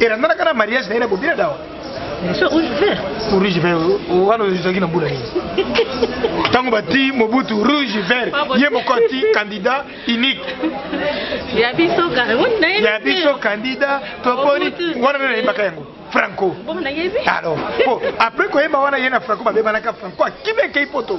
elandanaka na mariage na ye na bobina dawa so rouge vert rouge vert wana ezalaki na mbula nini ntango bati mobutu rouge vert ye moko ati candidat unique ya biso ya biso candidat toponi wana nde nayebaka yango franco alors po après koyeba wana ye na franco babebanaka franco akimi akei poto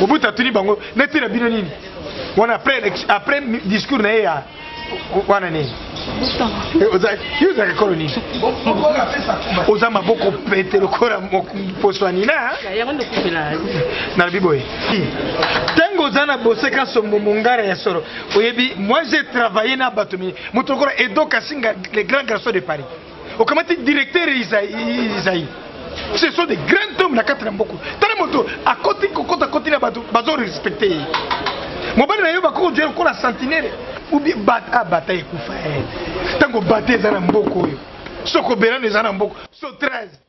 Mobutu atuni bango neti na bino nini wana après après discours na ye ya wana nini eh, ozalaka ekolo nini oza maboko pete lokola mposo ya nina nalobi boye ntango oza na boseka sombo mongara ya solo oyebi moi je travaille na bato moto lokola edo kasinga le grand garçon de paris okamati directeur isaï ce sont des grands hommes na kati na mboko tala moto akoti kokota koti na bato bazo respecte ye mobali na yo bakokodia lokola sentinele ubi bata ah, bata ekufa ntango bata eza na mboko oyo soko belano eza na mboko so 13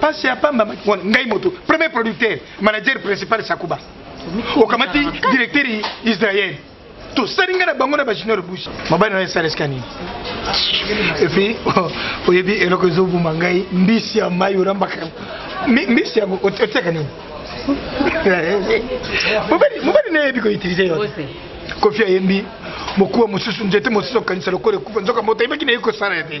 pasi ya pamba maki wana ngai moto premier producteur manager principal sakuba okamati directeur israel tosali ngai na bango na bajunior busi mobali na yo esaleska nini epuis oyebi eloko ezobuma ngai mbisi ya mai orambaka mbisi yango otiaka nini mobali na yebi koutilize yo kofi ayembi mokuwa mosusu nzete mosusu okanisa lokola ekufa nzoka moto ayebaki na ye kosala ya te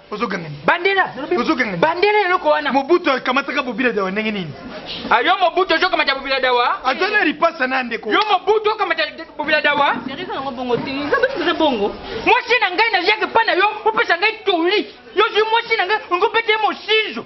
ozoganga nini bandela ozoganga bandela eloko wana mobutu akamataka bobila dawa ndenge nini a ah, yo mobutu ozokamata bobila dawa aza na lipasa na ndeko yo mobutu okamata bobila dawa mwasi na ngai naziaki mpa na yo opesa ngai toli yo zwi mwasi na ngai ongopete mosinzo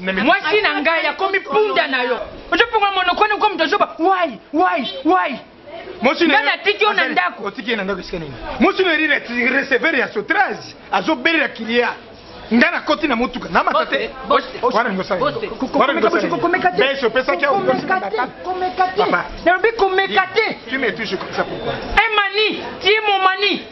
mwasi na ngai akomi punda na yo ozoponga monokoni okomi tozoba wai wai wai nga natiki yo na ndako otiki ye na ndako esika nini mwasi na erira receveur ya sotrage azobelela kilia nga nakoti na motuka na mata te wana ngosabeso opesaki aokomeka te nalobi komeka te tu me touche comme ça pourquoi emani tie momani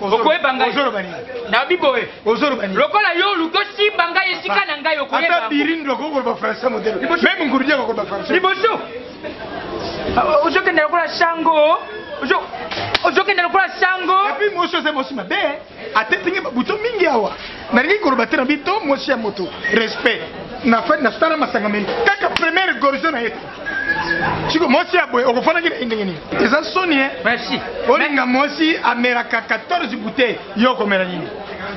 okoyeba ngai nabi boye lokola yo oluki osimba ngai esika na ngai okoyebaliboso ozokenda lokola sango ozokenda lokola sango epi mosi oza mosi mabe atetingi babuto mingi awa nalingi koloba te na bito mosi ya moto respect na fani nasala masanga meni kaka premiere gorgio na ye siko mwasi ya boye okofanaki na ye ndenge nini eza soni e merci olinga mwasi amelaka 14 bouteille yo okomela nini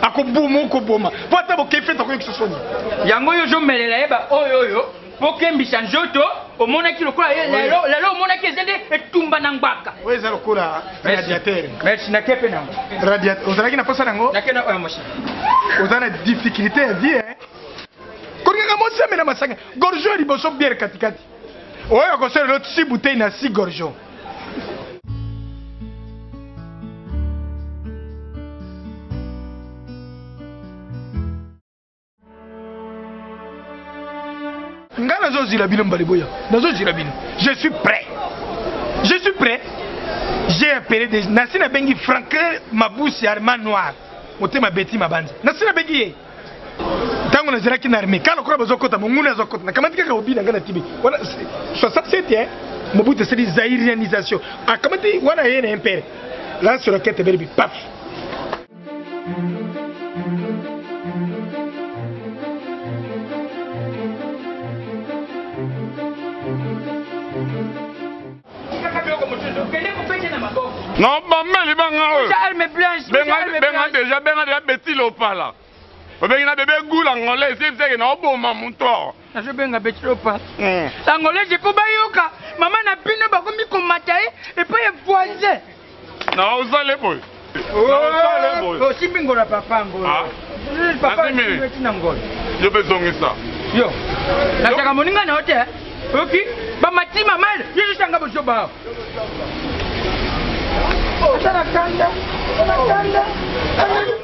akoboma okoboma mpo ata bokei fete akoyokisa soni yango yo ozomelela ye baoyo oyo mpo okembisa nzoto omonaki lokola ye lelo lelo omonaki eza nde etumba na ngbaka oyo eza lokola radiateur merci nake mpe nango radiateur ozalaki na mposa nango nake na oyo mosi oza na difficulté ya vie kolingaka mosi amela masanga Gorgeon ya liboso bière katikati. Oyo akosala lelo si bouteille na si gorgeon. nga nazozila bino mbali boya nazozila bino je suis prêt je suis prêt j'ai appelé des nasi nabengi franklin mabusi arma noir motema beti mabanza nasi nabengi ye ntango nazalaki na armée kala lokola bazokota monguna azokota nakamati kaka obi na ngai na tibi wana 67 eh, mobutu asali zairianisation akamati wana ye na impere la sorakete belibi paf Tikaka biloko mosusu. Kende kopete na maboko. Non, bambeli banga oyo. Uja arme blanche. Benga benga déjà benga déjà Betty Lopala. Obengi na bebe goul angolais esi ebiseke na oboma moto. Nazo benga Betty Lopala. Hmm. Angolais je po bayoka mama na bino bakomi komata ye epai ya voisin. Na osale boy. Na osale boy. Oh, osimbi ngola papa ngola. Ah. Papa osimbi na ngola. Yo pe zongisa. Yo. Na chaka moninga na hotel. Oki ba matima mal. Yo yo sanga bojo ba. Oh, tana kanda. Tana kanda. Tana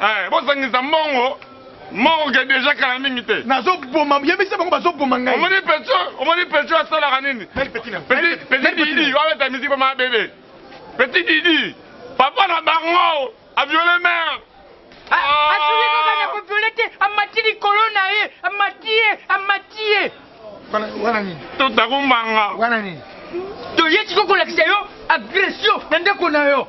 Eh, bozangisa mbongo morgue deja kala mingi te nazoboma yebisa bango bazoboma ngai omoni pecho omoni pecho asalaka nini petit didi wabeta miziki pa maa bebe petit didi papa na bango aviole mare asoki kaka na koviole te amati likolo na ye amati ye amati ye wana nini totakumbanga wana nini toye sikokolakisa yo agression na ndeko na yo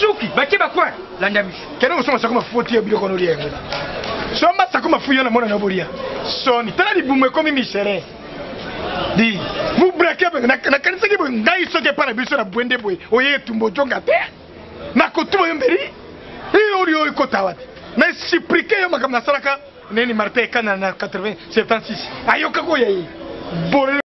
suki batie bacoin landa misu kende kosomba sako mafuti ya biloko nolia yango somba sako mafuti yana mwana na bolia soni tala libumu ekomi misere di mubrake nakanisaki boye ngai soki epai na biso na bwende boye oye etumba ojonga te nakotuma yo mbeli iyo oli oyo ekotawa te na esiprike yo makambo nasalaka neni martin ekana na 80 76 ayoka koya ye